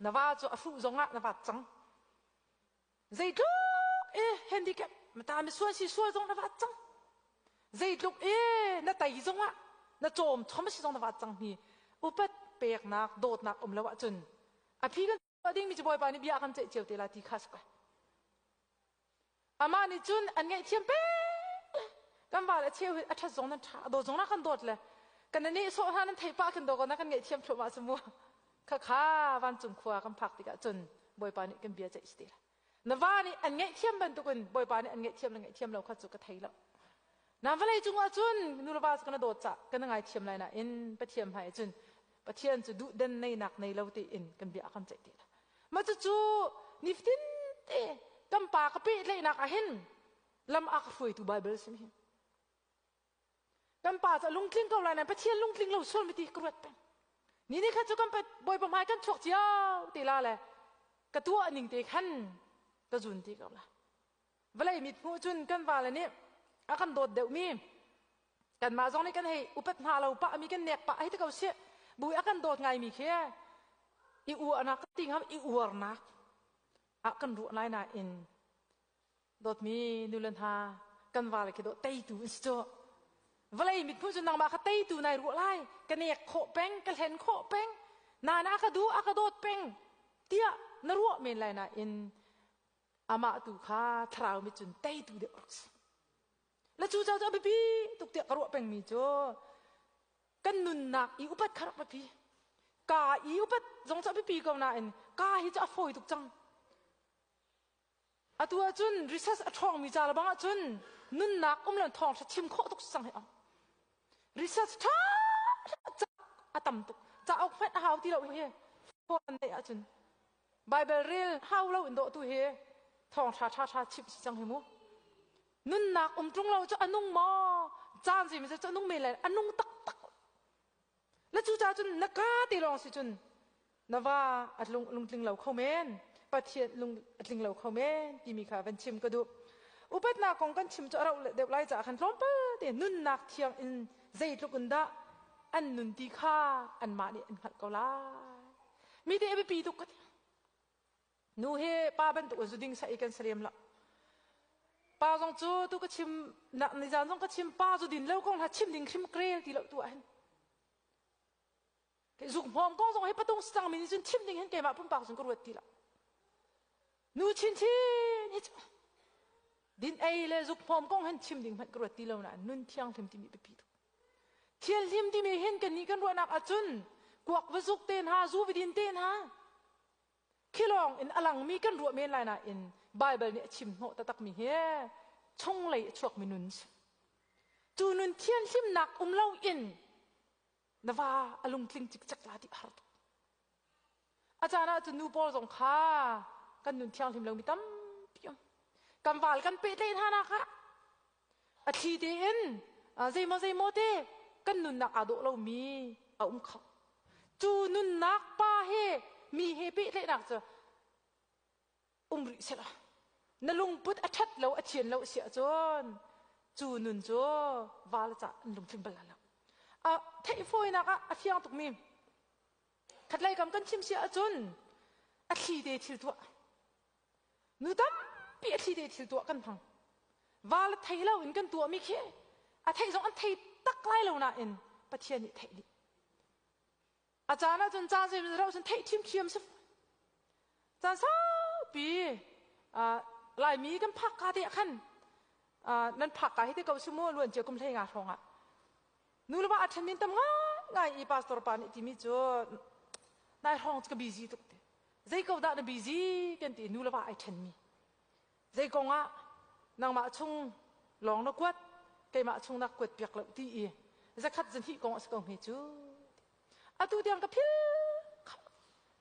na va cu a hruh zong ah na vat cang zeitluk e handicap na ta mi sual si sual zong na vat cang zeitluk e na tei zong ah na cawm chom si zong na vat cang hi upat peknak dawtnak um lo ahcun a phi kan tuah ding mi ci bawipa nih bia kan ceih cio te la ti kha saka Amah nih cun an ngaihthiam peng. Kan val a cheu hi a ṭhat zong nan ṭha, a dawt zong na kan dawt le kan na nehsawh hna nan theih pah kan dawt ko na kan ngaihthiam thluahmah cu mu. Khakha vancung khua kan phak tikah cun Bawipa nih kan bia ceih si ti lo. Na va nih an ngaihthiam bantukin Bawipa nih an ngaihthiam le ngaihthiam lo kha cu ka thei lo. Na vawlei cungah cun nulepa cu kana dawt cah kana ngaithiam lai nain Pathian hmai cun Pathian cu duhden neinak nei lo tein kan bia a kan ceih ti lo. Mah cucu nifatin te kan pa ka pehtlaihnak ah hin lam a ka hruaitu Baibal sin hin kan pa cu lungtling ko lai nain Pathian lungtling lo sual mi ti ka ruat peng. Ni ni kha cu kan bawipa hmai kan chuak cio te la le ka tuah ning te khan ka zun ti ko la. vawlei mithmuh cun kan vale nih a kan dawt deuhmi kanmah zong nih kan hei upat hna lo pah mi kan nek pah hei ti ko sih bu a kan dawt ngai mi khi i uahnak ti ngam i uarnak ah kan ruah lai nain dawtmi nule hna kan vale khi dawt teitu in si cu vawlei mithmuh cu nangmah kha teitu nai ruah lai ka nek khawh peng ka hlen khawh peng na na ka du a ka dawt peng tiah na ruah men lai nain amah tu kha thlarau mit cun teitu deuh a si la cu ca cu a biapi tuk tiah ka ruah pengmi cu kan nunnak i upat kha rak biapi ka i upat zong cu a biapi ko nain ka hi cu a fawi tuk cang atu ahcun research a ṭhawngmi ca bang ahcun nunnak um le thawng thim khawh tuk sang he ong research ṭha a tam tuk cauk hmanh a hau ti lo hi fawn neih ahcun Baibal rel hau loin dawh tu hi thawngṭha ṭhaṭha chimh si cang hi mu. Nunnak um ṭung lo cu a nung maw? Caan zeimazat cu a nung men lai. A nung taktak. Na cu ca cun na ka ti lawng si cun na va a lung, lungtling lo kho men. Pathian lung a tling lo kho men timi kha van chim ka duh. Upatnak kong kan chim cu a rauh deuh lai caah khan tlawmpal te nunnak thiang in zeitluk in dah an nun ti kha anmah nih an hngalh ko lai. Mite a biapi tuk ka ti. Nu he pa bantuk a zuding sa i kan salem la. Pa zong cu tu ka chim nak ni zan zong ka chim pa zu din lo kong hla chim ding hrim krel ti lo tu a hen. Ke zuk hmong ko zong he patung sang min cun chim ding hen keimah pumpak sun ka ruat ti la. nu chinchin hi cu din ei le zukhmawm kong hen chim ding hmanh ka ruat ti lo na nun thianghlim timi biapi tuk thil hlim timi hin kan ni kan ruahnak ahcun kuak va zuk te hna zu vidin te hna khilawng in alangmi kan ruah men lai nain Bible nih a chim hnawh takmi hi chung lei a chuakmi nun cu nun thianhlimnak um lo in na va a lungtling cikcek la ti a har tuk. A caan ah cun nu pawl zong kha kan nun thianghlim lo mi tampi um. Kan val kan peh tle hna na kha a thli te in zeimaw zeimaw te kan nunnak aa dawh lo mi a um kho. Cu nunnak pa he mi he peh tlehnak cu um rih sela na lungput a ṭhat lo a thian lo a si ahcun cu nun cu val ca an lungtling bal lo a theihfawinak ah a fiang tukmi khatlei kam kan chim si ahcun a thli te thil tuah nu tampi a thli te thil tuah kan hmang val thei lo in kan tuahmi khi a thei zong an thei tak lai lo nain pathian nih theih dih A caan ah cun caan zeimaw zat cun theih ṭhimṭhiam si caan saupi Laimi kan phak ka te ah khan nan phak ka hi te ko si mu luan cia kum hlei nga hrawng ah nu le pa a ṭhen min tam ngaingai i pastor pa nih timi cu nai hrawng cu ka busy tuk te zei ko dah na busy kan ti nu le pa ai ṭhen mi Zeikong ah nangmah chung lawng na kuat, keimah chung na kuat piak lo ti i zakhat zun hih kong a si ko hme cu. Atu tiang ka phil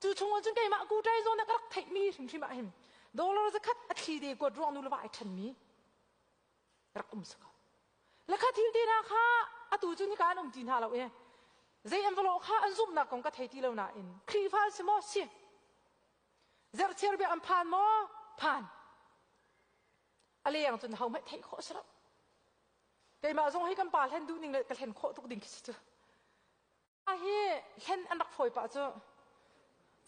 cu chungah cun keimah kutai zawn na ka rak theihmi hrimhrim ah hin dollar zakhat a thli te kuat ruang nu lava ai thenmi rak um saka lakha thil te na kha atu cu nika an um ti hna lo e zei envelope kha an zumnak kong ka thei ti lo nain khrihfa si maw si Zerchiar bia an phan maw? Phan. A leng cun hohmanh theih khawh si lo. Keimah zong hi kan pa hlen duh ning le ka hlen khawh tuk ding khi si cu. A hi hlen an rak fawi pah cu.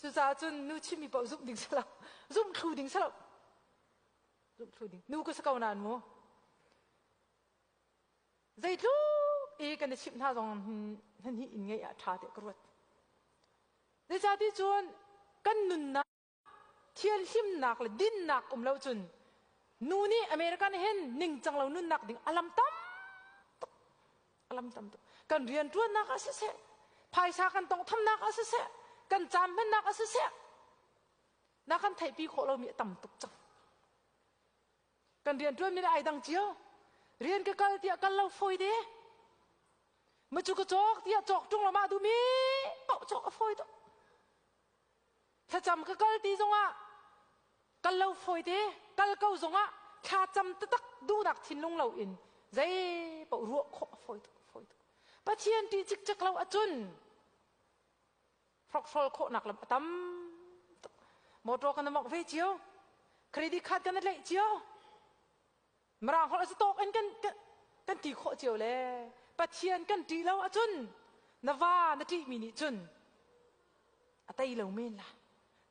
Cucaah cun nu chimmi paoh zumh ding si lo. Zumh thlu ding si lo. Zumh thlu ding. Nu ka si ko nan mu. zeitluk i kan i chimh hna zong nan hi inn ngei ah ṭha tiah ka ruat zeicati cun kan nunnak thian hlimnak le dinnak um lo cun nu nih american hen ningcang lo nunnak ding alam tam tuk alam tam tuk kan rian ṭuannak ah siseh phaisa kan tong thamnak ah siseh kan cam hmannak ah siseh na kan theihpi khawh lomi a tam tuk cang kan riantuanmi le ai dang cio rian ka kal tiah kal lo fawi de ma cu ka cawk tiah cawk ṭung lo mah duhmi paoh cawk a fawi to thlacam ka kal ti zongah kal lo fawi te kal ko zongah thlacam tatak duhnak thinlung lo in zei paoh ruah khawh a fawi tuk fawi tuk pathian ṭih cikcek lo ahcun hrokhrawl khawhnak lam a tam tuk motor kan mok ve cio credit card kan leih cio mrang holh si tawk in kan kan ti khawh cio le pathian kan ti lo ahcun na va na ti mi nih cun a tei lo men la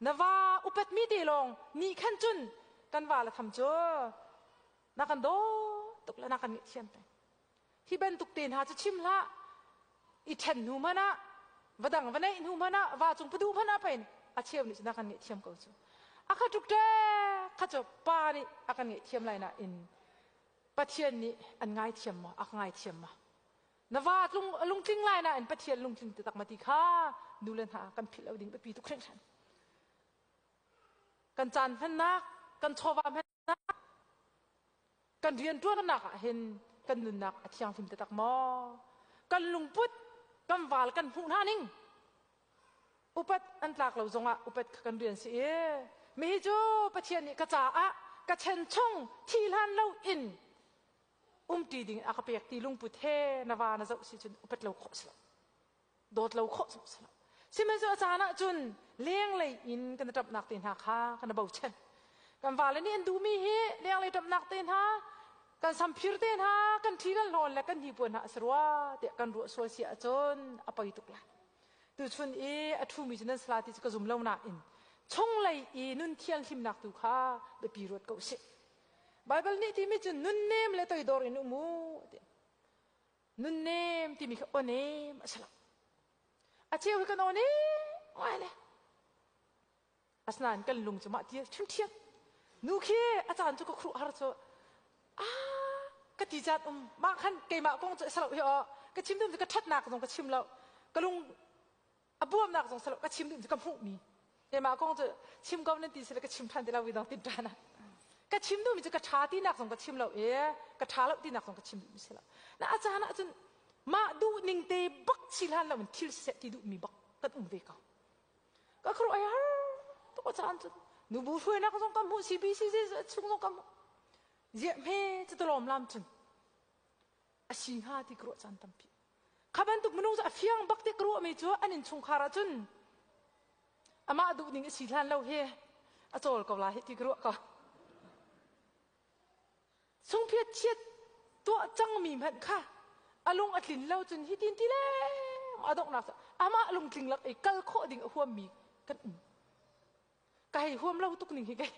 na va upet mi te lawng ni khan cun kan va la tham cu na kan do tuk la na kan ngih thiam te Hi bantuk te hna cu chim hlah. I ṭhen hnu hmanh ah, va dang va neih hnu hmanh ah, va cung padu hmanh ah pei a cheu nih cun a kan ngaihthiam ko cu. A kha tluk ṭek kha cu pa nih a kan ngaihthiam lai nain Pathian nih an ngaithiam maw? A ka ngaithiam maw? Na va tlung a lungtling lai nain Pathian lungtling taktak ma ti kha nule hna kan philh lo ding biapi tuk hringhran. Kan caan hmannak, kan chawva hman Kan rianṭuannak ah hin kan nunnak a thianghlim taktak maw? Kan lungput, kan val kan hmuh hna ning upat an tlak lo zongah upat kha kan rian si i mihi cu Pathian nih ka caah ka chen chung thi hlan lo in umṭi ding a ka pek ti lungput he na va na zoh si cun upat lo khawh si lo. dawt lo khawh zong si lo sihmanhsehlaw a caan ah cun lenglei in kan i ṭamhnak te hna kha kan i bochan kan vale nih an duhmi hi lenglei ṭamhnak te hna kan samphir te hna kan thi le hlawn le kan hnipuan hna a si rua tiah kan ruah sual si ahcun a poi tuk lai tuchun i a ṭhumi cu nan sala ti cu ka zum lo nain chunglei i nun thianghlimnak tu kha biapi ruat ko sih Baibal nih timi cun nun nem le toidor in um u nunnem timi kha onem a si lo a cheu hi kan onem oai le asinain kan lung cu mah ti ṭhiamṭhiam nu khi a caan cu ka khuruh har cu a ka ti caan um mah khan keimah kong cu a si lo hi aw ka chim tum cu ka ṭhatnak zong ka chim lo ka lung a buamnak zong salo ka chim ding ka hmuh mi mah kong cu chim ko nan ti sila ka chim than ti lo i dong tin tana ka chim duh mi cu ka tha ti nak zong ka chim lo e ka tha lo ti nak zong ka chim duh mi sila na a caan ah cun mah duh ning te bak chilan lo in thil set ti duh mi bak kan um ve ko ka kru ai har to ko caan cun nu bu hruai nak zong ka mu CBC chung zong ka mu ye me chu to lom lam cun asi hnga ti ka ruah caan tampi kha bantuk minung cu a fiang bak te ka ruah mi cu an inn chungkhar ah cun amah duh ning asi hlan lo hi a cawl ko la hi ti ka ruah ka sungphiat chiat tuah cang mi hmanh kha a lung a tlin lo cun hi tin ti le a donghnak amah lungtling lak i kal khawh ding a huam mi kan um ka hei huam lo tuk ning hi kei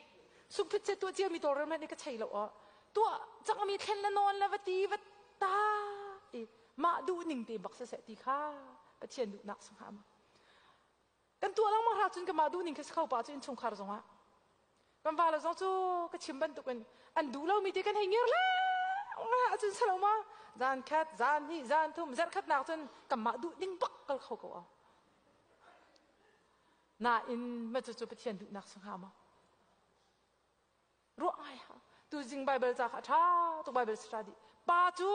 sungphit se tuah cia mi tawr men ka chei lo o tuah chang mi thlen la non la va ti va ta i mah duh ning te bak se se ti kha pathian duh nak sung ha ma kan tua lang ma ra cun ka ma duh ning kha sakho pa cu in chungkhar zongah kan va la zong cu ka chim bantuk in an duh lo mi te kan hei ngir la nga cun salo ma zan khat zan ni zan thum zar khat nak cun ka ma duh ding bak kal kho ko o Nain, mah cucu Pathian duhnak si hnga maw? Ruah ngai ha. Tuzing Bible ca kha a ṭha tuk Bible si ṭha dih. Pa cu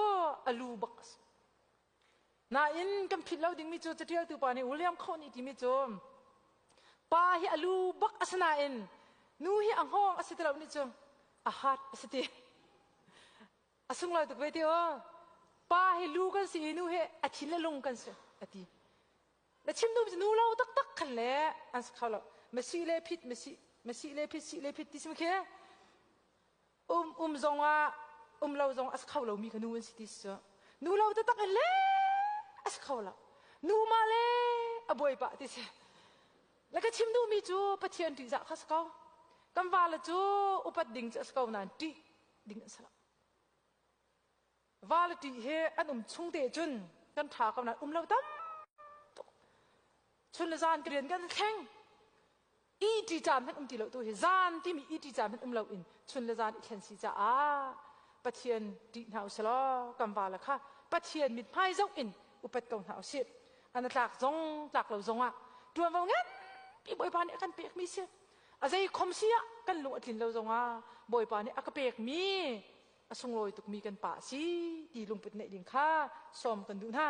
a lu bak a si. Nain, kan philh lo dingmi cu catialtu pa nih William Khawh nih timi cu pa hi a lu bak a si nain nu hi a ngawng a si ti lo nih cu a heart a si ti. A sung lo tuk ve ti o. Pa hi lu kan si i nu hi a thin le lung kan si a ti. Na chimnu cu nu lo taktak khan le an sak kho lo masi le phit masi masi le phit si le phit ti sim khi um um zong ah um lo zong a sak kho lomi ka nu an si ti su nu lo taktak in le a sak kho lo nu ma le a buai pah ti si la ka chimnu mi cu pathian ṭih zah kha sak ko kan vale cu upat ding cu a sak ko nain ṭih ding an si lo vale ṭih he an um chung te cun kan ṭha ko nain um lo tam tuk chun le zan ka rian kan thleng iti caan hmanh um ti lo tu hi zan timi iti caan hmanh um lo in chun le zan i thlen si caah pathian ṭih hna usih law kan vale kha pathian mit hmai zoh in upet ko hna usih an tlak zong tlak lo zongah ṭuanvo ngan pi bawipa nih a kan pek mi si a zei khom si ah kan lung a tlin lo zongah bawipa nih a ka pek mi a sunglawi tukmi kan pa a si ti lungput neih ding kha sawm kan duh hna.